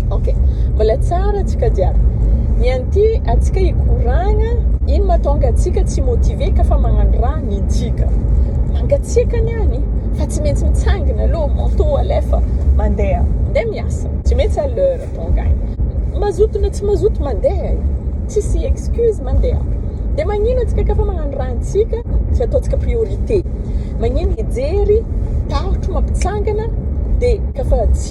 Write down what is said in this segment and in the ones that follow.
ok mbola tsara atsika jiaby ny an'ity atsika hikoragna ino matonga atsika tsy motive ka fa magnano raha ny ntsika mangatsiaka ny any fa tsy maintsy mitsangina aloha manto alefa mandeha mandeha miasa tsy maintsy à l'heure tonga agny mazoto na tsy mazoto mandeha e tsisy excuse mandeha dia magnino atsika ka fa magnano raha ntsika tsy ataontsika priorité magnino hijery tahotro mampitsangana dia ka fa tsy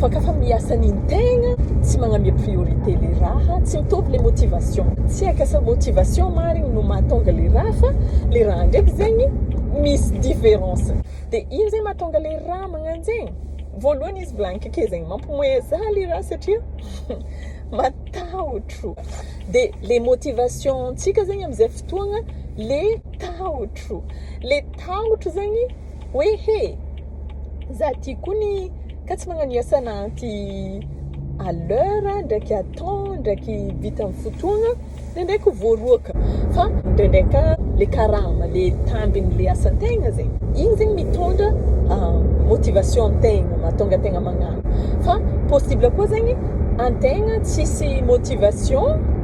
fa ka fa miasa ny tegna tsy magnamia priorité le raha tsy mitovy le motivation tsy haiko asa motivation marigny no mahatonga le raha fa le raha ndraiky zegny misy différence de ino zegny mahatonga le raha magnano zegny voalohany izy volagniko ake zegny mampimoehy za le raha satria matahotro de le motivation ntsika zegny amizay fotoagna le tahotro le tahotro zegny hoe he za ty koa ny ka tsy magnano iasan'anty à l'heure ndraiky à temps ndraiky vita amin'ny fotoagna ndraindraiky ho voaroaka fa ndraindray ka le karama le tambin'le asan-tegna zegny igny zegny mitondra ah, motivation an-tegna mahatonga an-tegna magnano fa possible koa zegny an-tegna tsisy motivation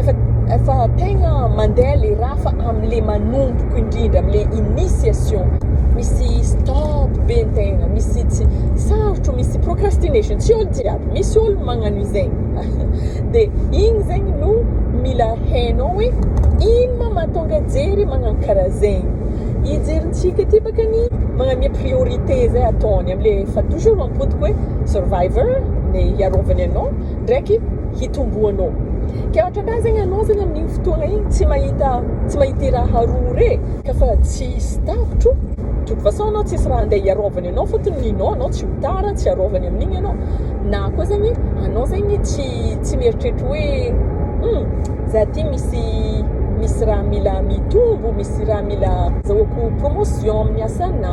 efa efa tegna mandeha le raha fa am'le manomboko indrindra am'le initiation misy stop be ny tegna misy tsy sarotro misy procrastination tsy olo jiaby misy olo magnano izay de igny zegny no mila hainao hoe ino ma mahatonga jery magnano karaha zegny ijerintsika ty bakany magname priorité zay ataony am'le fa toujours mampodiko hoe survivor le hiarovany anao ndraiky hitomboanao. Ka ohatran'ny zegny anao zegny amin'igny fotoagna igny tsy mahita tsy mahita i raha roa re ka fa tsisy tapitro de toute façon anao tsisy raha andeha hiarovany anao fôtony ninao anao tsy ho tara tsy arovany amin'igny anao na koa zegny anao zegny tsy tsy mieritreritra hoe hum za ty misy misy raha mila mitombo misy raha mila azahoako promotion amin'ny asanà.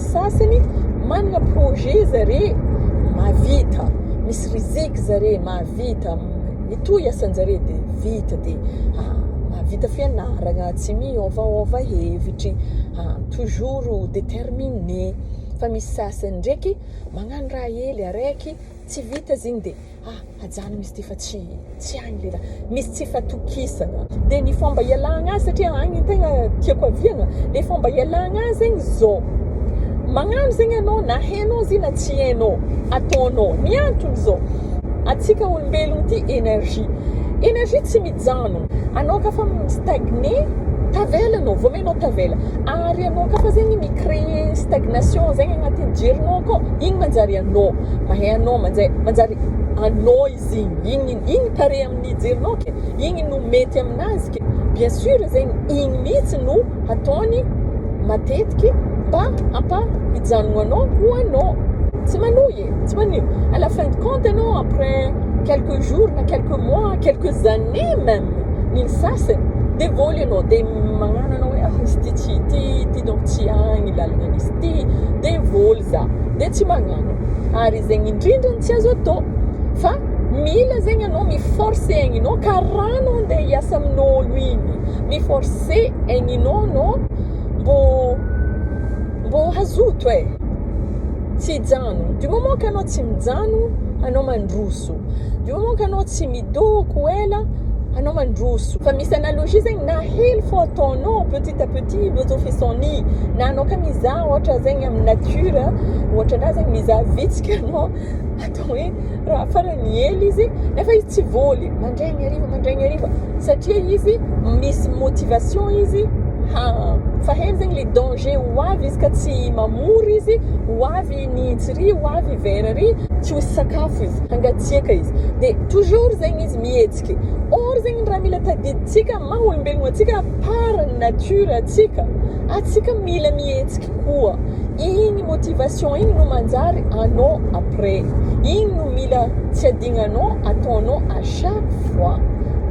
sasany manana projet zare mahavita misy riziki zare mahavita mitohy asanjare de vita de mahavita fianaragna tsy miôvaôva hevitry toujours determine fa misy sasany ndraiky magnano raha hely araiky tsy vita zegny de Ah, ajanony izy ty fa tsy tsy agny le raha. Misy tsy fatokisana. Dia ny fomba ialagna azy satria agny ny tegna tiako aviagna. Dia fomba ialagna azy zegny zao. Magnano zegny anao na hainao izy io na tsy hainao, ataonao. Ny antony zao, antsika olombelogno ty énergie. Énergie tsy Mijano. Anao ka fa mi-stagner, tavela anao, voamainao tavela. Ary anao ka fa zegny mi-creer stagnation zegny agnatin'ny jerinao akao, igny manjary anao. Mahay anao, manjay, manjary anao izy igny. Igny, igny, igny pare amin'ny jerinao ke. Igny no mety aminazy ke. Bien sûr zegny, igny mihitsy no hataony matetiky mba hampa-hijanogno anao ho anao. Tsy manohy e. tsy hoe ny à la fin de compte ianao après quelques jours na quelques mois quelques années même ny ny sasany dia voly ianao dia magnano anao hoe ah izy ity tsy ity ity donc tsy agny lalana misy ity dia voly za dia tsy magnano ary zegny indrindra no tsy azo atao fa mila zegny ianao mi forcer aigninao ka raha anao andeha hiasa amin'ôlo igny mi forcer aigninao anao mbô mbô hazoto e. tsy hijano du moment ka anao tsy mijano anao mandroso du moment ka anao tsy midoko ela anao mandroso fa misy analogie zegny na hely fo ataonao petit à petit lojo fisoni na anao ka mizaha ohatra zegny amin'ny nature ohatra anah zegny mizaha vitsika anao atao hoe Raha farany miely izy nefa izy tsy voly mandraigny hariva mandraigny hariva satria izy misy motivation izy ha fa hainy zegny le danger ho avy izy ka tsy mamory izy ho avy ny jiri ho avy vera ry tsy ho sakafo izy hangatsiaka izy de toujours zegny izy mihetsiky or zegny raha mila tadidintsika maha olombelogno antsika par nature antsika atsika mila mihetsiky Koa iny motivation iny no manjary anao après. Iny no mila tsy adignanao ataonao à chaque fois.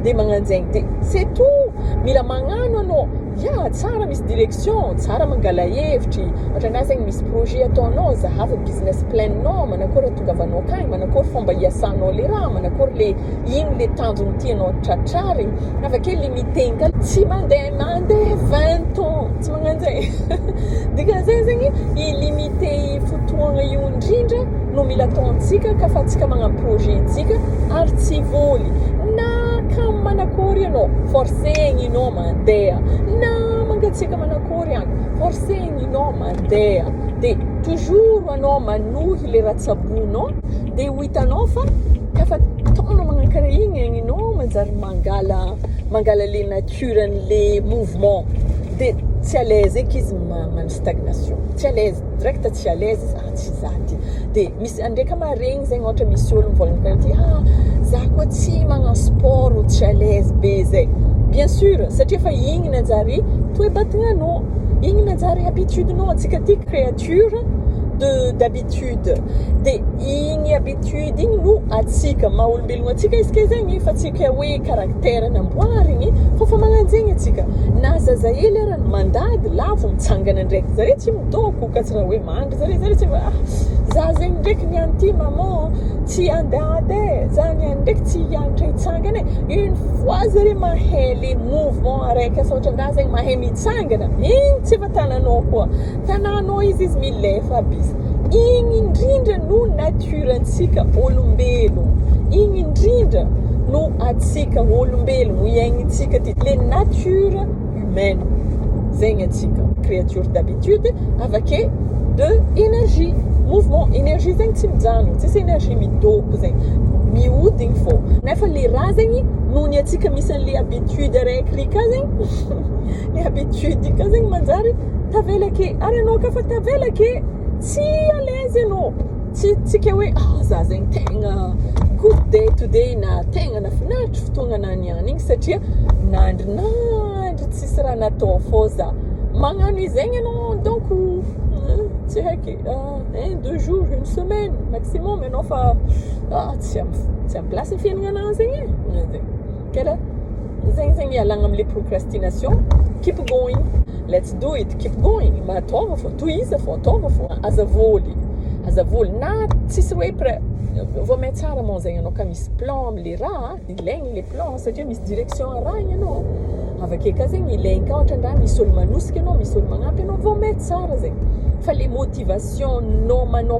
Dia magnanjegny dia c'est tout. Mila magnano anao. Ya, tsara misy direction, tsara mangala hevitry, ohatranà zegny misy projet ataonao, zahava business plan-nao, manakôry atongavanao akagny, manakôry fômba iasanao le raha, manakôry le ino le tanjogny tianao tratrarigny. Avake limiter-gny ka. Tsy mandeha mandeha vingt ans. tsy magnano zay dikan'izay zegny i limité fotoagna io indrindra no mila ataontsika ka fa tsika magnano projet-ntsika ary tsy voly na kam manakory ianao forcegny ianao mandeha na mangatsiaka manakory any forcegny ianao mandeha de toujours anao manohy le ratsabonao de ho hitanao fa kafa taona magnakarigny agny ianao manjary mangala mangala le nature cure anle mouvement de tsy à l'aise eky izy magnano stagnation tsy à l'aise direct tsy à l'aise za tsy za ty de misy andre ka maharegny zegny ôhatra misy ôlo mivôlagna karaha ty ah za koa tsy magnano sport tsy à l'aise be zay bien sur satria efa igny nanjary toe-batagnanao igny nanjary habitude nao antsika ty créature de d'habitude. habitude de igny habitude igny no atsika maha olombelogno atsika izy ke zegny fa tsy ke hoe caractère namboarigny fa fa magnanjegny atsika na zaza hely ara ny mandady lavo mitsangana ndraiky zare tsy midôko ka tsy raha hoe mandry zare zare tsy ah za zegny ndraiky ny an'ity maman tsy andady e za ny any ndraiky tsy hiagnatra hitsangana e une fois zare mahay le mouvement araiky asa ohatran-draha zegny mahay mitsangana igny tsy efa tananao koa Tananao izy izy milefa aby izy. Igny indrindra no nature ntsika olombelo. Igny indrindra no atsika olombelo no iaignintsika ty le nature humaine. Zegny atsika créature d'habitude avake de énergie mouvement énergie zegny tsy mijanogno tsisy énergie midoko zegny mihodigny fô nefa le raha zegny noho ny atsika misy anle habitude araiky rika zegny ny habitude ka zegny manjary tavela ake ary anao ka fa tavela ake tsy à l'aise anao tsy tsy ke hoe ah za zegny tegna good day to day na tegna nafinaritra fotoagna na niany igny satria nandry nandry tsisy raha natao fô za magnano izegny anao donc tsy haiky un deux jour une semaine maximum anao fa ah tsy am- tsy am- place ny fiaignananao zegny e. Kera zegny zegny ialagna amle procrastination keep going let's do it keep going mba ataovy fô tohiza fô ataovy fô aza voly aza voly na tsisy hoe pre- vao mahay tsara moa zegny anao ka misy plan amle raha de ilaigny le plan satria misy direction arahigny anao avake ka zegny ilaigny ka ohatra ndra misy olo manosika anao misy olo magnampy anao vao mahay tsara zegny fa le motivation nao manao